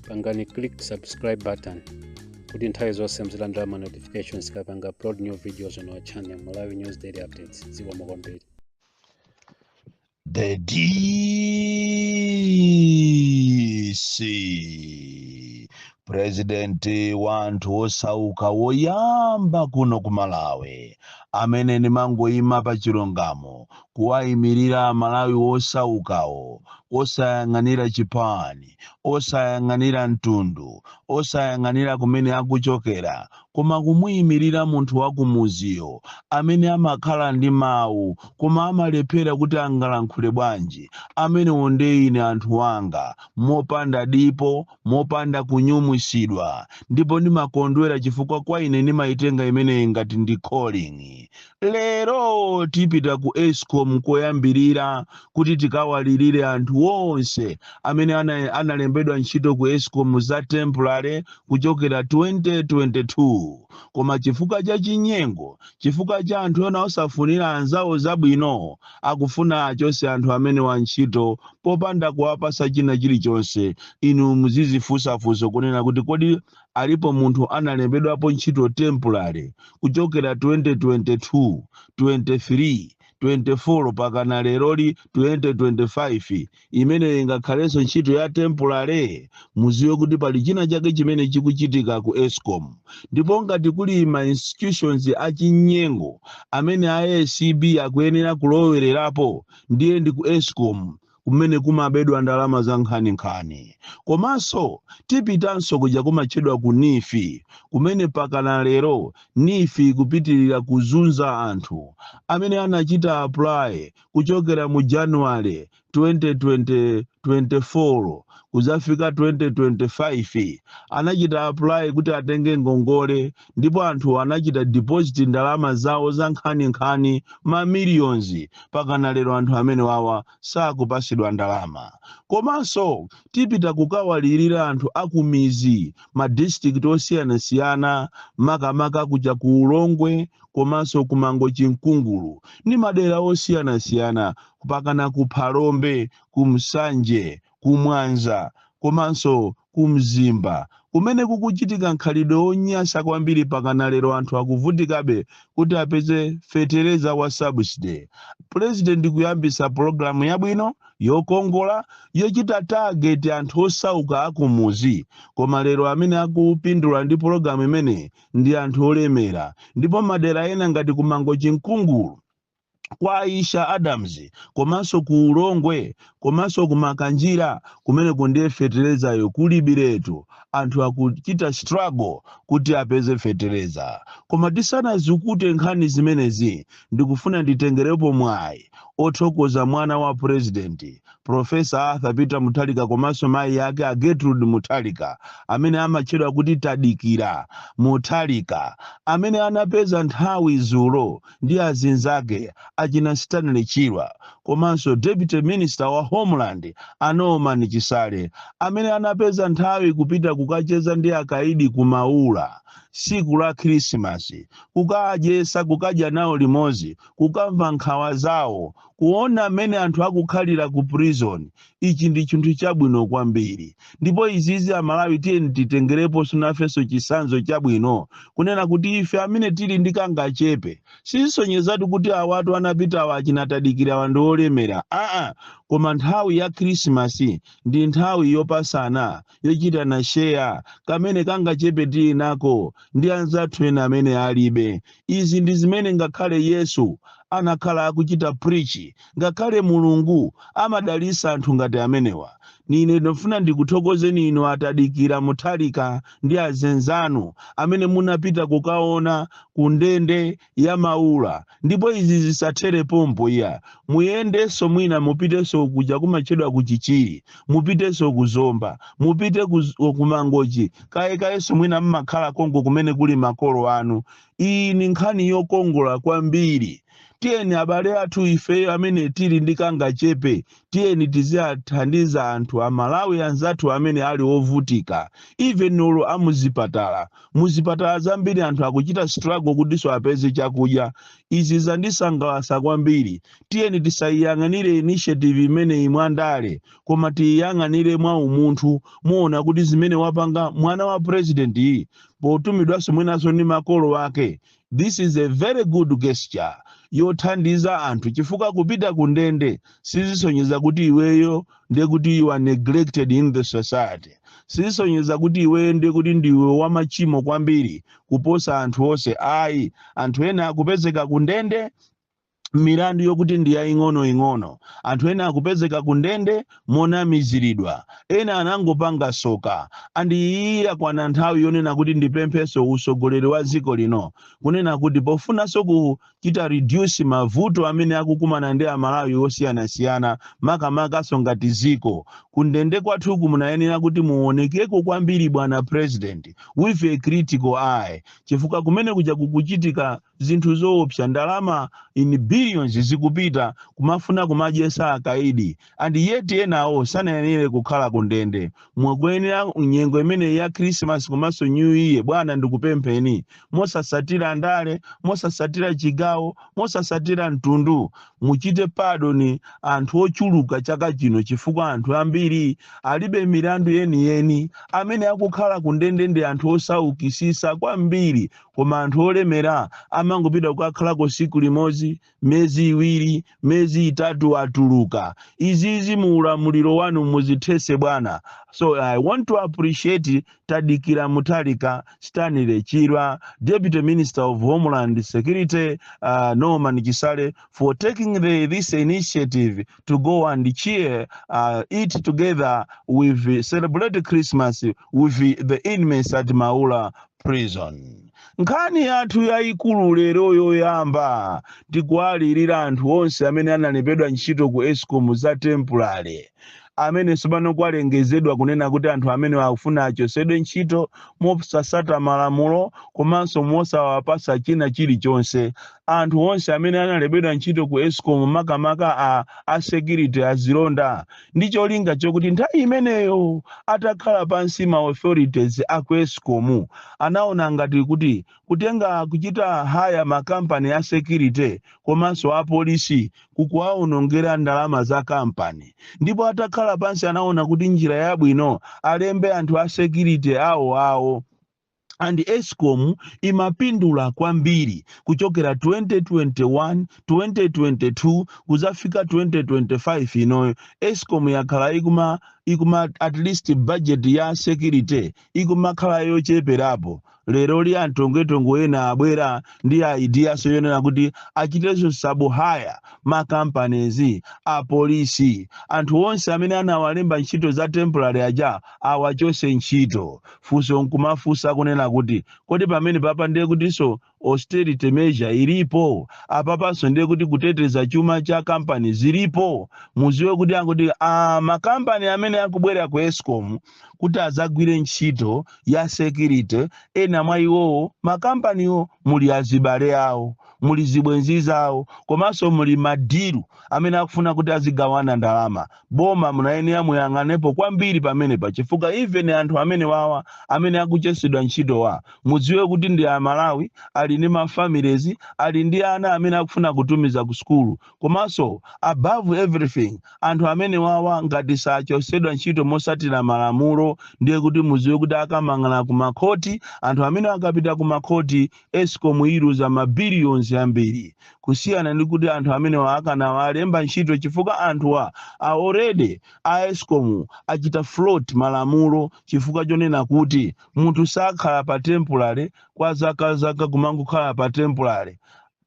pangani click subscribe button kuti nthawi zonse muzilandira ma notifications tikapanga upload new videos on our channel malawi news daily updates zikomo kwambiri The DC president wa anthu osauka woyamba kuno ku Malawi amene ndimangoyima pa chilungamo kuwaimirira amalawi wosaukawo wosayang'anira chipani, osayang'anira mtundu, osayang'anira kumene akuchokera koma kumuimirira munthu wakumuziyo amene amakhala ndi mawu koma amalephera kuti angalankhule bwanji, amenewo nde ine anthu anga mopanda dipo, mopanda kunyumwisidwa ndipo ndimakondwera chifukwa kwa ine ndimaitenga imeneyi ngati ndi calling, Lero tipita ku Escom koyambirira kuti tikawalirire anthu onse amene ana, analembedwa ntchito ku Escom za temporary kuchokera 2022 koma chifukwa cha chinyengo, chifukwa cha anthu ena osafunira anzawo zabwino, akufuna achose anthu amenewa ntchito popanda kuwapasa china chilichonse. Inu muzizifunsa funso kunena kuti kodi Alipo munthu analembedwapo ntchito temporary kuchokera 2022, 23, 24 pakana leroli 2025 imeneyo ingakhalenso ntchito ya temporary? Muziwe kuti pali china chake chimene chikuchitika ku escom ndipo ngati kuli ma institutions achinyengo amene a acb akuyenera kulowererapo ndiye ndi ku escom kumene kumabedwa ndalama za nkhaninkhani. Komanso tipitanso kuja kumatchedwa ku NEEF, kumene pakana lero NEEF ikupitirira kuzunza anthu amene anachita apply kuchokera mu January 2024 kudzafika 2025 anachita apply kuti atenge ngongole ndipo anthu anachita deposit ndalama zawo za nkhaninkhani ma millions pakana lero anthu amenewawa sakupasidwa ndalama komanso tipita kukawalirira anthu akumizi ma district osiyanasiyana makamaka kuja ku ulongwe komanso ku Mangochi Nkungulu ndi madera osiyanasiyana pakana ku phalombe ku Nsanje ku Mwanza komanso ku Mzimba kumene kukuchitika mkhalidwe wonyasa kwambiri pakana lero anthu akuvutikabe kuti apeze fetereza wa subsidy. Pulezidenti kuyambisa pologalamu yabwino yokongola yochita target anthu osauka akumuzi koma lero amene akupindula ndi pologalamu imeneyi ndi anthu olemera ndipo madera ena ngati ku Mangochi Nkungulu kwa Aisha Adams komanso ku Ulongwe komanso ku Makanjira kumeneko ndiye fetereza uyo kulibiretu anthu akuchita struggle kuti apeze fetereza koma tisanazukute nkhani zimenezi ndikufuna nditengerepo mwayi othokoza mwana wa president Profesa Arthur Peter Mutharika komanso mayi ake a Gertrude Mutharika amene amatchedwa kuti Tadikira Mutharika amene anapeza nthawi zulo ndi azinzake achina Stanley Chirwa komanso Deputy Minister wa Homeland a Norman Chisale amene anapeza nthawi kupita kukacheza ndi akaidi ku Maula tsiku la Khirisimasi kukawadyesa kukadya nawo limodzi kukamva nkhawa zawo kuona mmene anthu akukhalira ku prison ichi ndi chinthu chabwino kwambiri ndipo izizi ife amalawi tiyeni titengerepo sunafenso chisanzo chabwino kunena kuti ife amene tili ndi kangachepe sisonyezatu kuti awatu anapitawa achina Tadikira awa ndi olemera aa koma nthawi ya khrisimasi ndi nthawi yopasana yochitana share kamene kangachepe tili nako ndi anzathu ena amene alibe izi ndi zimene ngakhale yesu anakhala akuchita preach ngakhale mulungu amadalisa anthu ngati amenewa nine ndufuna ndikuthokozeni inu a Tadikira Mutharika ndi azinzanu amene munapita kukaona kundende ya maula ndipo izi zisathere pompo iyayi muyendenso mwina mupitenso kuja kumatchedwa ku chichiri mupitenso ku zomba mupite ku z- ku mangochi kaye kayenso mwina mmakhala konko kumene kuli makolo anu iyi ni nkhani yokongola kwambiri tiyeni abale athu ifeyo amene tili ndi kangachepe tiyeni tiziwathandiza anthu amalawi anzathu amene ali ovutika even olo amuzipatala muzipatala zambiri anthu akuchita struggle kutinso apeze chakudya izi zandisangalasa kwambiri tiyeni tisayiyang'anire initiative imeneyi mwandale koma tiyiyang'anire mwa umunthu muona kuti zimene wapanga mwana wa president iyi potumidwanso mwinanso ndi makolo ake This is a very good gesture yothandiza anthu chifukwa kupita ku ndende sizisonyeza kuti iweyo ndiye kuti you are neglected in the society sizisonyeza kuti iweyo ndiye kuti ndiwe wamachimo kwambiri kuposa anthu onse ayi anthu ena akupezeka ku ndende milandu yokuti ndi yaing'onoing'ono anthu ena akupezeka ku ndende monamiziridwa ena anangopanga soka and iyi yakwana nthawi yonena kuti ndipempheso usogoleri wa dziko lino kunena kuti pofunaso kuchita reduce mavuto amene akukumana ndi amalawi osiyanasiyana makamakaso ngati dziko kundende kwathuku munayenera kuti muonekeko kwambiri bwana president with a critical eye chifukwa kumene kuja kukuchitika zinthu zoopsa ndalama in billions zikupita kumafuna kumadyesa akaidi and yet enawo sanayenere kukhala ku ndende mwakuyenera nyengo imeneyi ya christmas komanso new year bwana ndikupempheni mosasatira ndale mosasatira chigawo mosasatira mtundu muchite padoni anthu ochuluka chaka chino chifukwa anthu ambiri alibe milandu yeniyeni amene akukhala ku ndende ndi anthu osaukisisa kwambiri koma anthu olemera amangopita kukakhalako siku limodzi mezi iwiri mezi itatu atuluka izizi mu ulamuliro wanu muzithese bwana so i want to appreciate tadikira mutalika stanley chirwa deputy minister of homeland security uh, norman chisale for taking uh, this initiative to go and cheer uh, eat together with celebrate christmas with the inmates at maula prison nkhani yathu yayikulu lero yoyamba ndi kuwalirira anthu onse amene analembedwa ntchito ku escom za temporary amene tsopano kwalengezedwa kunena kuti anthu amene akufuna achosedwe ntchito mosasata malamulo komanso mosawapasa china chilichonse anthu onse amene analembedwa ntchito ku escom makamaka a, a security azilonda ndi cholinga chokuti nthawi imeneyo atakhala pansi ma authorities a ku escom anaona ngati kuti kutenga kuchita haya makampani a security komanso apolisi kukuwaonongera ndalama za kampani ndipo atakhala pansi anaona kuti njira yabwino alembe anthu a security awo awo and escom imapindula kwambiri kuchokera 2021 2022 kuzafika 2025 inoyo escom yakhala ikuma at least budget ya security ikumakhala yocheperapo lero li antongwetongo ena abwera ndi ideas zoonera kuti achitenso sabuhaya makampanizi apolisi anthu onse amene anawalemba ntchito za temporary aja awachose ntchito Funso nkumafunsa kunena kuti, kodi pamenepapa ndiye kutinso austerity measure ilipo? Apapanso ndiye kuti kuteteza chuma cha kampani zilipo? Muziwe kuti makampani amene akubwerera ku escom kuti adzagwire ntchito ya security, ena mwa iwowo makampaniwo muli azibale awo muli zibwenzi zawo komanso muli madiru amene akufuna kuti azigawana ndalama boma munayenera muyang'anepo kwambiri pamenepa chifukwa even anthu amene wawa amene akuchosedwa ntchito wa mudziwe kuti ndi amalawi ali ndi mafamilies ali ndi ana amene akufuna kutumiza ku sukulu komanso above everything anthu amene wawa ngati achosedwa ntchito mosatira malamulo ndiye kuti mudziwe kuti akamang'ala ku makhoti anthu amene akapita ku makhoti escom iluza ma billions ambiri kusiyana ndi kuti anthu amenewa akanawalemba ntchito chifukwa anthuwa already a escom achita flout malamulo chifukwa chonena kuti munthu sakhala pa temporary kwa zakazaka kumangokhala pa temporary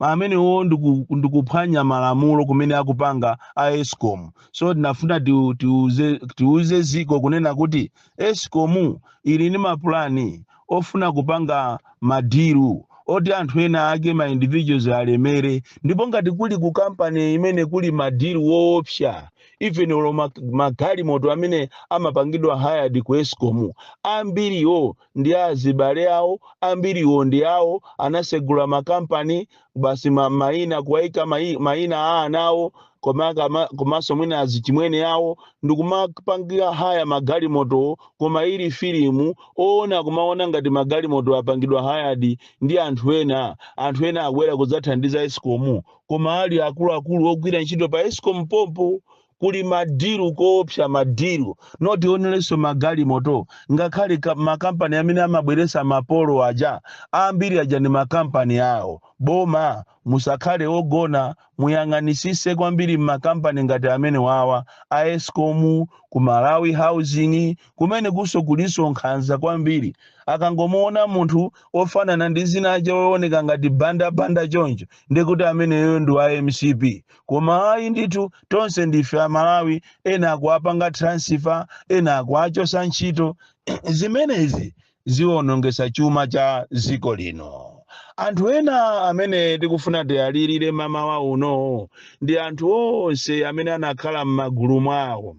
amenewo ndiku- ndikuphwanya malamulo kumene akupanga a escom so tinafuna tiuze tiuze dziko kunena kuti esikomu ili ndi mapulani ofuna kupanga madilu oti anthu ena ake ma individuals alemere ndipo ngati kuli ku kampani imene kuli madilu oopsa even olo mag- magalimoto amene amapangidwa hired ku esikomu ambiriwo ndi azibale awo ambiriwo ndi awo anasegula makampani basi ma- maina kuwaika mai- maina a ana awo koma kama- komanso mwina azichimwene awo ndikumapangira haya magalimotowo koma ili filimu oona kumaona ngati magalimoto apangidwa hayadi ndi anthu ena anthu ena abwera kudzathandiza esikomu koma ali akuluakulu ogwira ntchito pa esikomu pompo kuli madiru oopsa madiru not only magalimoto ngakhale ka- makampani amene amabweresa mapolo aja ambiri aja ndi makampani awo boma musakhale ogona muyang'anisise kwambiri m'makampani ngati amene wawa a escom ku malawi housing kumene kunso kulinso nkhanza kwambiri akangomuona munthu ofanana ndi zina ujeni ooneka ngati bandabanda choncho ndikuti ameneyoyo ndi wa mcp koma ayi ndithu tonse ndife amalawi ena akuwapanga transfer ena akuwachosa ntchito zimenezi ziwonongesa chuma cha dziko lino anthu ena amene tikufuna tialirire mamawa uno ndi anthu onse amene anakhala m'magulu mwawo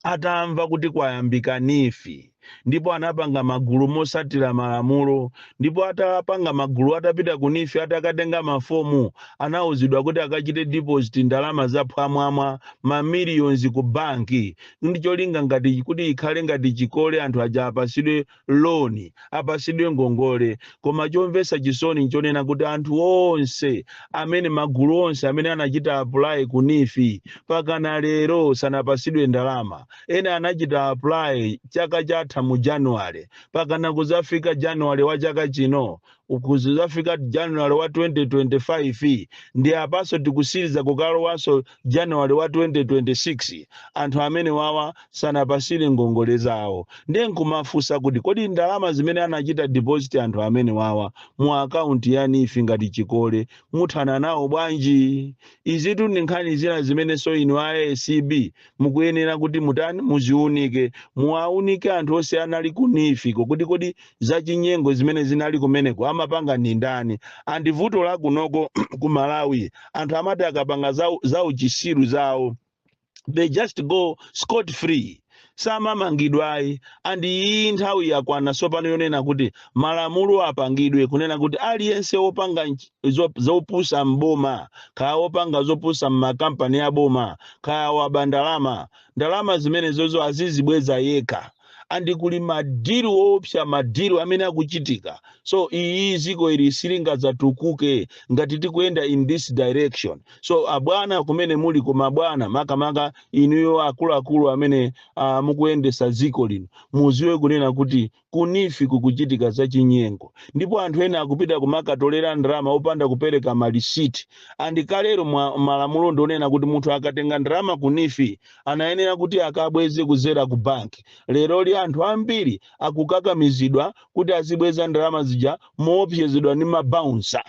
atamva kuti kwayambika nifi ndipo anapanga magulu motsatira malamulo ndipo atapanga magulu atapita ku nifi atakatenga mafomu anauzidwa kuti akachite deposit ndalama za phwamwamwa ma millions ku banki ndi cholinga ngati kuti ikhale ngati chikole anthu aja apasidwe loan, apasidwe ngongole. Koma chomvesa chisoni nchonena kuti anthu onse amene magulu onse amene anachita apply ku NEEF pakana lero sanapasidwe ndalama. Ena anachita apply chaka chatha mu January pakana kuzafika January wa chaka chino kuzafika january wa 2025 ndi apanso tikutsiriza kukalowanso january wa 2026 anthu amene wawa sanapasidwe ngongole zawo ndiye nkumafunsa kuti kodi ndalama zimene anachita deposit anthu amene wawa mu akaunti ya nifi ngati chikole muthana nawo bwanji izitu ndi nkhani zina zimenenso inu a acb mukuyenera kuti mutani muziunike muwaunike anthu onse anali ku NEEF-ko kuti kodi zachinyengo zimene zinali kumeneko amapanga ndi ndani andi vuto la kunoko ku malawi anthu amati akapanga za, za uchisiru zawo they just go scot free samamangidwa ayi and iyi nthawi yakwana tsopano yonena kuti malamulo apangidwe kunena kuti aliyense wopanga nch- zo- zopusa m'boma kaya wopanga zopusa m'makampani a boma kaya waba ndalama ndalama zimenezozo azizibweza yekha andi kuli madiri oopsa madiri amene akuchitika so iyi dziko ili silingadzatukuke ngati tikuyenda in this direction so abwana kumene muli koma abwana makamaka inuyo akuluakulu amene uh, mukuyendesa dziko lino mudziwe kunena kuti Ku NEEF kukuchitika zachinyengo ndipo anthu ena akupita kumakatolera ndalama opanda kupereka malisiti andi kale mwa malamulo ndionena kuti munthu akatenga ndalama ku NEEF anayenera kuti akabweze kuzera ku bank leroli anthu ambiri akukakamizidwa kuti azibweza ndalama zija moopsezedwa ndi ma bouncer.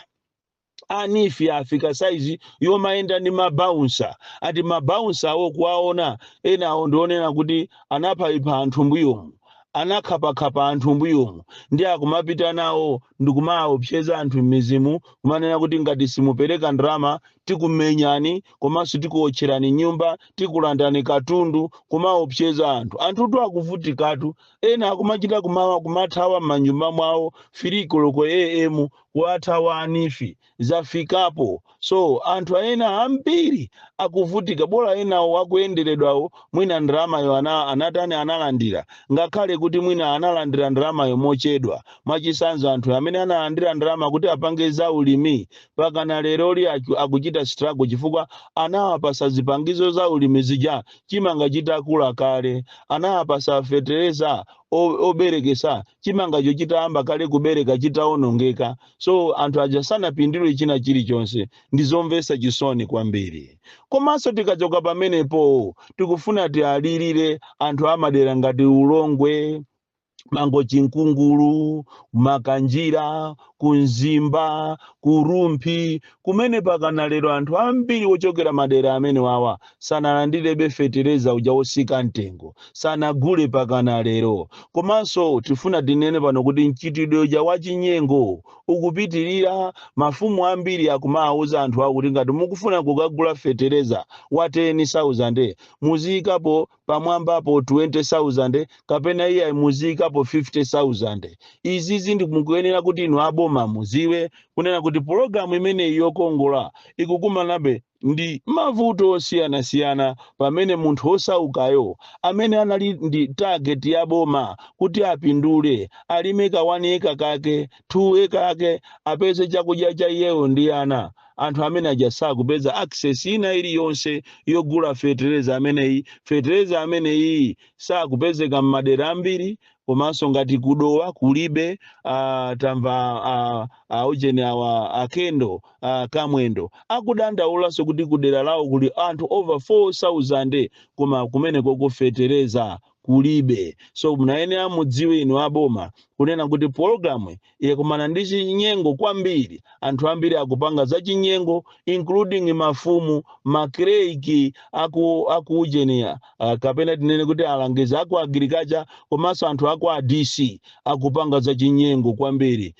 a NEEF afika saizi yomayenda ndi mabaunsa ati mabaunsa awo kuwaona ena awo ndionena kuti anaphaipha anthu mbuyomu anakhapakhapa anthu mbuyomu ndiye akumapita nawo ndikumaopseza anthu m'mizimu kumanena kuti ngati simupereka ndalama tikumenyani komanso tikuotcherani nyumba tikulandani katundu kumaopseza anthu anthutu akuvutikatu ena akumachita kuma- kumathawa m'manyumba mwawo filikoloko am kuthawa NEEF zafikapo so anthu ena ambiri akuvutika bola enawo akuyenderedwawo mwina ndalamayo ana anatani analandira ngakhale kuti mwina analandira ndalamayo mochedwa mwachitsanzo anthu amene analandira ndalama kuti apange za ulimi pakana leroli aku- akuchita struggle chifukwa anawapasa zipangizo za ulimi zija chimanga chitakula kale anawapasa fetereza o- oberekesa chimangacho chitayamba kale kubereka chitawonongeka so anthu aja sanapindule china chilichonse ndi zomvetsa chisoni kwambiri komanso tikachoka pamenepo tikufuna tialirire anthu amadera ngati ulongwe mangochi nkungulu makanjira ku Mzimba, ku Rumphi, kumene pakana lero anthu ambiri ochokera madera amenewawa sanalandirebe fetereza uja wotsika mtengo, sanagule pakana lero. Komanso tifuna tinene pano kuti mchitidwe uja wachinyengo ukupitirira, mafumu ambiri akumawauza anthu awo kuti ngati mukufuna kukagula fetereza wa 10,000 muziikapo pamwambapo 20,000 kapena iyayi muziyikapo 50,000. Izizi ndiye mukuyenera kuti inu a boma muziwe kunena kuti pulogalamu imeneyi yokongola ikukumanabe ndi mavuto osiyanasiyana pamene munthu wosaukayo amene anali ndi target ya boma kuti apindule alime ka 1 acre kake, 2 acre ake apeze chakudya cha iyeyo ndi ana, anthu amene aja sakupeza access ina iliyonse yogula fetereza ameneyi fetereza ameneyi sakupezeka m'madera ambiri komanso ngati ku Dowa kulibe uh, tamva uh, aujeni awa a Kendo a Kamwendo akudandaulanso kuti kudera lawo kuli anthu over 4000 koma kumenekoko fetereza kulibe so munayenera mudziwe inu aboma kunena kuti pologalamu iyi yakumana ndi chinyengo kwambiri anthu ambiri akupanga za chinyengo including mafumu makalaki aku ujeni uh, kapena tinene kuti alangizi aku agirikacha komanso anthu aku adc akupanga za chinyengo kwambiri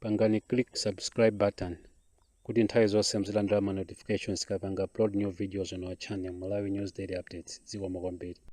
pangani click subscribe button kuti nthawi zonse muzilandira ma notifications tikapanga upload new videos on our channel Malawi News Daily Updates zikomo kwambiri